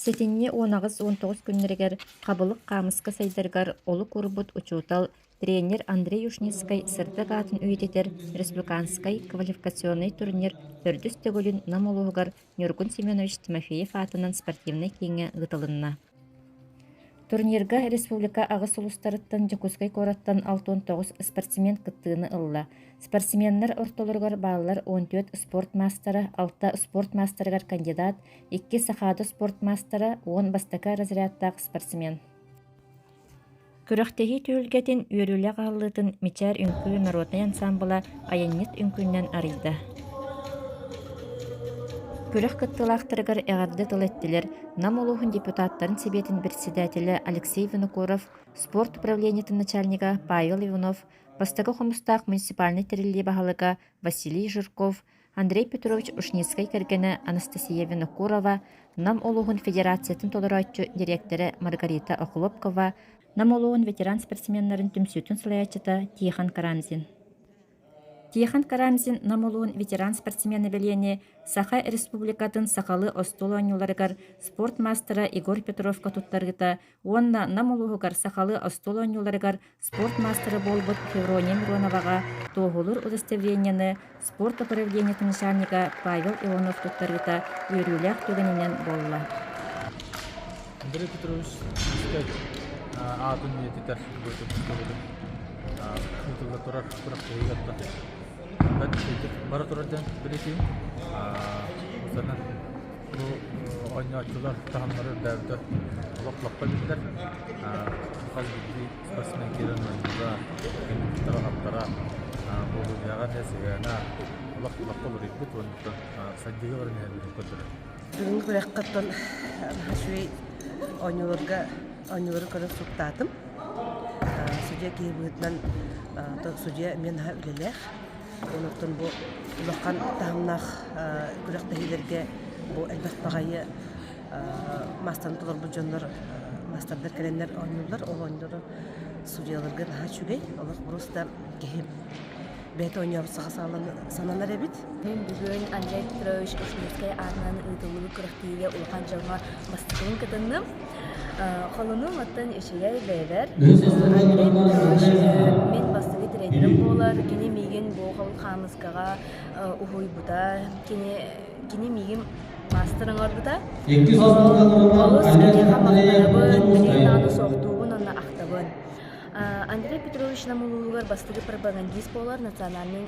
Сэтинньи уон аҕыс уон тоҕус күннэригэр Хабылык хаамыска сайдарыгар олук урбут учуутал, тренер Андрей Ушницкай сырдык аатын үйэтитэр республиканскай квалификационнай турнир төрдүс төгүлүн Нам улууһугар Ньургун Семенович Тимофеев аатынан спортивнай кииҥҥэ ыытылынна. Турнирга республика аҕыс улуустарыттан Дьокуускай куораттан алтан тоҕус спортсмен кыттыыны ылла. Спортсменнар ортолоругар бааллар он төрт спорт маастара, алта спорт маастарыгар кандидат, иккис сахаата спорт маастара уон бастакы разрядтаах спортсмен күрэхтэһии түһүлгэтин үөрүүлэх аһыллыытын мичээр үҥкүү норуотунай ансаамбыла айанньыт үҥкүүннэн арыйда күрэх кыттыылаахтарыгар эҕэрдэ тыл эттилэр нам улууһун депутаттарын сэбиэтин председателэ алексей винокуров спорт управлениетын начальнига павел иванов бастакы хомустаах муниципальнай тэриллии баһылыга василий жирков Андрей Петрович Ушницкай кэргэнэ Анастасия Винокурова, Нам улууһун федерациятын толорооччу дириэктэрэ Маргарита Охлопкова, Нам улууһун ветеран спортсменнарын түмсүүтүн салайааччыта Тихон Карамзин. Тихон Карамзин Нам улууһун ветеран спортсмен нэбилиэни Саха Республикатын сахалыы остуол оонньууларыгар спорт маастара Егор Петровка туттаргыта уонна Нам улууһугар сахалыы остуол оонньууларыгар спорт маастара буолбут Феврония Мироноваҕа Туоһулуур удостоверенияны спорт управлениетын начальнига Павел Иванов туттарыыта үөрүүлээх түгэнинэн буолла. Андрей Петрович үстэ аатын үйэтитэр төбөтүн ыытылла турар күрэхтэһиигэ да бэрт бара турар диэн бэлэтиим. Осторынан Бу оонньооччулар таһымнары үрдээбитэ олох лаппа эбиллэр. Хас биирдии спортсмен киирэн оонньуура, аттара-аптара, буолуулааҕа эмиэ сыһыана олох лаппа уларыйбыт уонна сайдыыга баран иһэллэрин көрдөрөр. Бүгүҥҥү күрэххиттэн наһаа үчүгэй оонньууларга оонньуулары көрөн суруктаатым. Судья киһи быһыытынан судья эмиэ наһаа үлэлээх. Онортон бу улахан таһымнаах күрэхтэһиилэргэ бу элбэх баҕайы маастаны толорбут дьоннор маастардар кэлэннэр оонньууллар. Ол оонньуулары суруйаларга наһаа үчүгэй. Олох борус да киһи бэйэтэ оонньообут саха сааланы сананар эбит. Күн бүгүн Олег Петрович Ишмирскай аатынан ыытыллыбыт күрэхтэһиигэ улахан дьоҥҥо бастакыбын кытынным. Холону оттон үчүгэй бэйэбэр. Атын уш мин бастакы тирэйдэрим буолар. Кини миигин бу хол хаамыскаҕа уһуйбута. Кини кини миигин маастар оҥорбута. Олус киниэхэ махтанабын, кинигэ наада суохтуубун уонна ахтабын. Андрей Петрович Нам улууһугар бастакы пропагандист буолар национальнай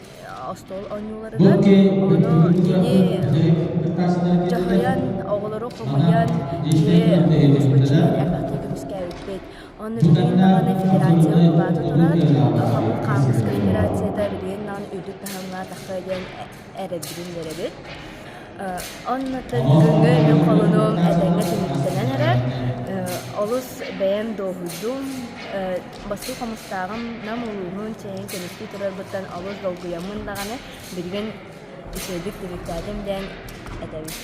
остуол оонньууларыгар ону кини дьаһайан оҕолору хомуйан дьиэ көспөччү атыы көмүскээбиппит онно билигин даҕаны федерация былаата туран омук хаартыска федерацията билигин даҕаны үрдүк таһымҥа тахсыа диэн эрэрбитин үөрэбит оннуттан бүгүҥҥү мин холунум этэҥҥэ түмүктэнэн эрэр олус бэйэм дуоһуйдум Бастыҥ хомустааҕым Нам улууһун чээһин көмүскүү турарбыттан олус долгуйаммын даҕаны, билигин үчүгэйдик түмүктээтим диэн этэбин.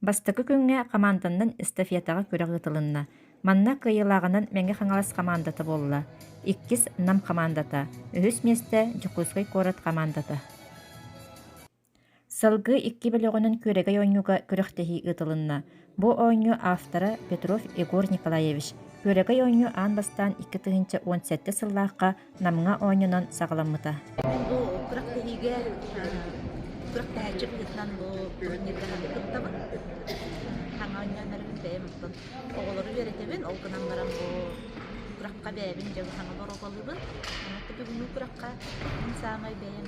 Бастакы күҥҥэ хамаанданан эстафетаҕа күрэх ыытылынна. Манна кыайыылааҕынан Мэҥэ Хаҥалас хамаандата буолла. Иккис Нам хамаандата, үһүс миэстэ Дьокуускай куорат хамаандата. Сылгы икки бөлөҕүнэн күөрэгэй оонньууга күрэхтэһии ыытылынна. Бу оонньуу автора Петров Егор Николаевич. Күөрэгэй оонньуу аан бастаан икки тыһыынча уон сэттэ сыллаахха Намҥа оонньоонон саҕаламмыта. Бу күрэхтэһиигэ күрэхтэһээччи быһыытынан бу турнирга аһары кыттабын. Саҥа оонньооннорбун бэйэм оттон оҕолору үөрэтэбин, ол гынан баран бу күрэххэ бэйэбин дьэ саҥа борогуолуубун. Онон бүгүҥҥү күрэххэ мин саамай бэйэм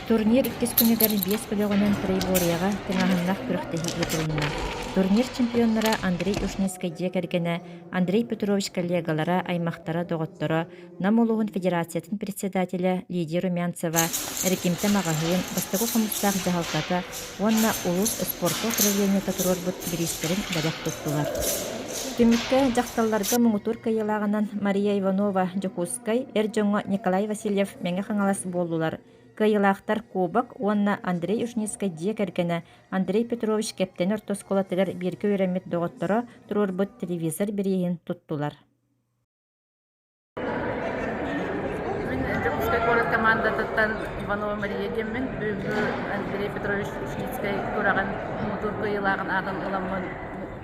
Турнир иккис күнүгэр биэс өлөҕүнэн Троеборьеҕа тыҥааһыннаах күрэхтэһии ыытылынна. Турнир чемпионнара Андрей Ушницкай дьиэ кэргэнэ Андрей Петрович коллегалара, аймахтара-доҕотторо, Нам улууһун федерациятын председателэ Лидия Румянцева, Эргимтэ маҕаһыын, бастакы хомустаах дьаһалтата уонна улуус спорка управлениета туруорбут бириистэрин бэлэх туттулар. Түмүккэ дьахталларга муҥутуур кыайыылааҕынан Мария Иванова, Дьокуускай, эр дьоҥҥо Николай Васильев Мэҥэ Хаҥалас буоллулар, кыайыылаахтар куобак уонна Андрей Ушницкай дьиэ кэргэнэ Андрей Петрович Кэптэни ортоскуолатыгар бииргэ үөрэммит доҕотторо туруорбут телевизор бирииһин туттулар Дьокуускай куорат командатыттан Иванова Мария диэммин, бүгүҥҥү Андрей Петрович Ушницкай кураҕын мутуур кыайыылааҕын аатын ыламмын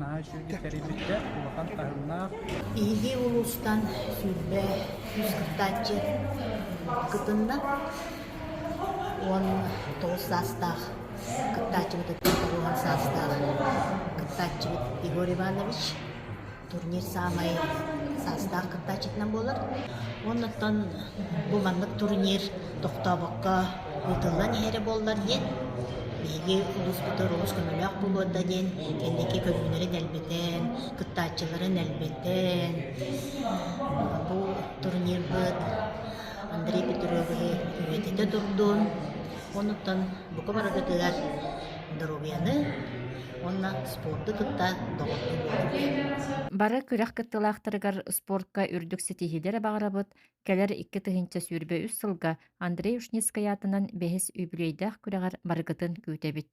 наһаа үчүгэйдик тэрийбиттэр улахан таһымнаах. Илии улуустан сүүрбэ үс кыттааччы кытынна уонна тоҕус саастаах кыттааччыбыт тоҕуһан саастаах кыттааччыбыт Егор Иванович турнир саамай саастаах кыттааччытынан буолар. Оннуттан бу маннык турнир тохтообокко Ыытыллан иһэрэ буоллар диэн, биһиги улууспутугар олус көмөлөөх буолуорда диэн кэнники көрүҥнэри дэлбитэн, кыттааччылары нэлбитэн, бу турнирбыт Андрей Петровиһы үйэтитэ турдун. Онуттан бука бараргытыгар доруобуйаны уонна спорду кытта доҕордуу буолуҥ. Бары күрэх кыттыылаахтарыгар спортка үрдүк ситиһиилэри баҕарабыт, Кэлэр икки тыһыынча сүүрбэ үс сылга Андрей Ушницкай аатынан бэһис үбүлүөйдээх күрэҕэр барыгытын күүтэбит.